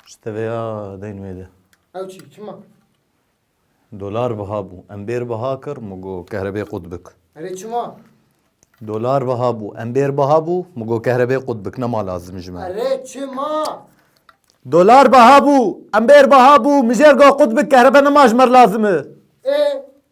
Ji teveya deyn wê de. Ew çi? Çima? Dolar biha bû. Em bêr biha kir min got kehrebê qut bik. Erê çima? Dolar biha bû. Em bêr biha bû min got kehrebê qut bik. Nema lazim ji me. Erê çima? Dolar biha bû. Em bêr biha bû mijêr got qut bik kehrebe nema ji me lazim e. Ê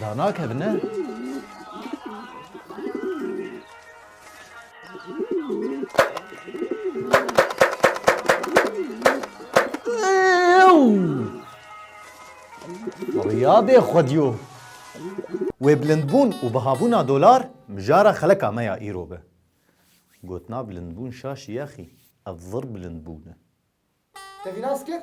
Da nakevin ne? Rîya bê xwedîyo. Wê bilindbûn û bihabûna dolar mijara xeleka me ya îro be. Gotina bilindbûn şaşî yexî, ev zir bilind bûne. Tevî nas kir?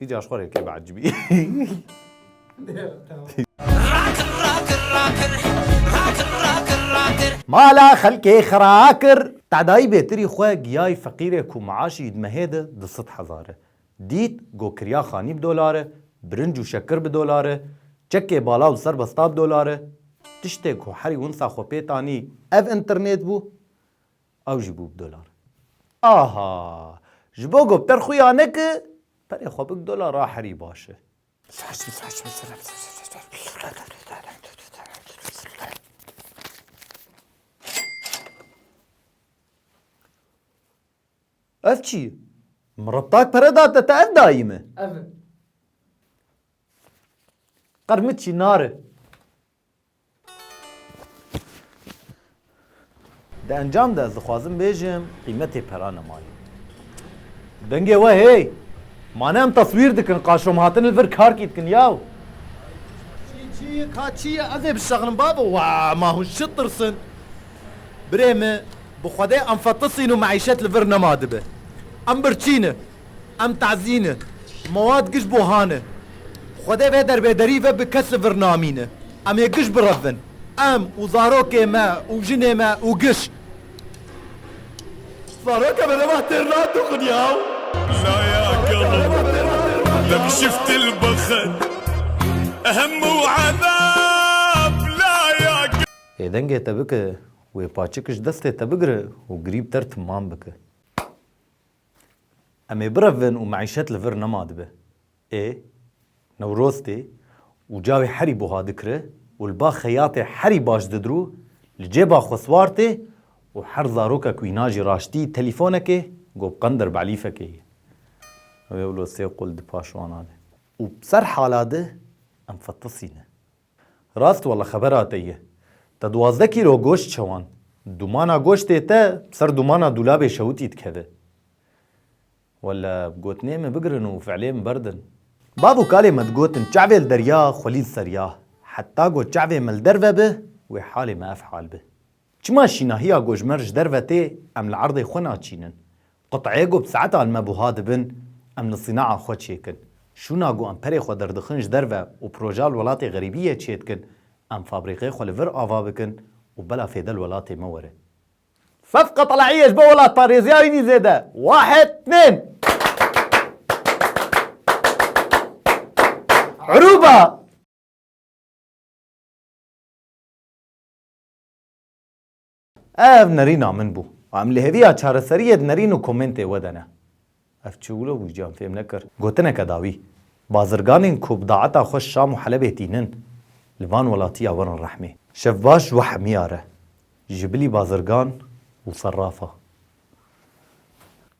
Îcar xwe rê kê biecibî. Mala xelkê xira kir. Tedayî bêtirî xwe giyayî feqîrê ku miaşî yî di mehê de du sed hezar e. Dît got kirya xanî bi dolar e, birinc û şekir bi dolar e, çekê bala û serbesta bi dolar e. Tiştê ku herî winsa xwe pê tanî ev înternêt bû. Ew jî bû bi dolar. Aha! Ji bo ku bi te re xwe ya neke, perê xwe bi dolar re herî baş e. Ev çi ye? Min rebtak pere da te, te ev dayî min? Ev e. Qermiçî nar e. Di encam de ez dixwazim bêjim qîmetê pera ne maye. Dengê we hey! Ma ne em taswîr dikin, qaşom hatin li vir karkî dikin yaw. Çî çî ye ka çî ye ez ê bişexinim babo wa ma hûn şit tirsin. Birê min bi xwedê em fetisîn û meîşet li vir nema dibe. Em birçî ne. Em tazî ne. Mewad giş bo ha ne. Xwedê vê derbêderî ve bi kes li vir namîne. Em ê giş birevin. Em û zarokê me û jinê me û giş. Zaroka me dema têr nat û xunyaw. Laya kelo lem şiftil bixin hemû edab laya kelo. Ê dengê te bike wê paçikiş destê te bigire û girî bi te re timan bike. Em ê birevin û meîşet li vir nema dibe. Ê Newroz tê û cawê herî buha dikire û li ba xeyatê herî baş didirû li cêba xwe siwar tê û her zaroka ku îna jî raştî telîfonekê go bi qender bi elîfekê ye. Ew ê wilo sê qul di paşwana de. Û bi ser hala de em fetisîne. Rast wala xebera te ye. Te duwazdeh kîlo goşt çewand. Dumana goştê te bi ser dumana dûlabê şewitî dikeve. Wala gotinê min bigirin û fiilê min berdin. Bav û kalê me digotin çavê li derya, xwelî li ser ya. Heta ku çavê me li derve be, wê halê me ev hal be. Çima şînahiya gojmer ji derve tê em li erdê xwe naçînin? Quteyê ku bi saetan me buha dibin em li sînaha xwe çêkin. Şûna ku em perê xwe derdixin ji derve û proja li welatê xerîbiyê çêdikin em fabrîqê xwe li vir ava bikin û bela fêde li welatê me were. Sed qetelahiyê ji bo welatparêziya wî nî zêde wahid tên. Urûba! Ev nerîna min bû. Em li hêviya çareseriyê di nerîn û komêntê we de ne. Ev çi wilo bû giyan fêm nekir. Gotineke dawî. Bazirganên ku bi daeta xwe Şam û Helebê tînin, li van welatiya werin rehmê. Şev baş û hemiyar e. Ji bilî bazirgan û serrafa.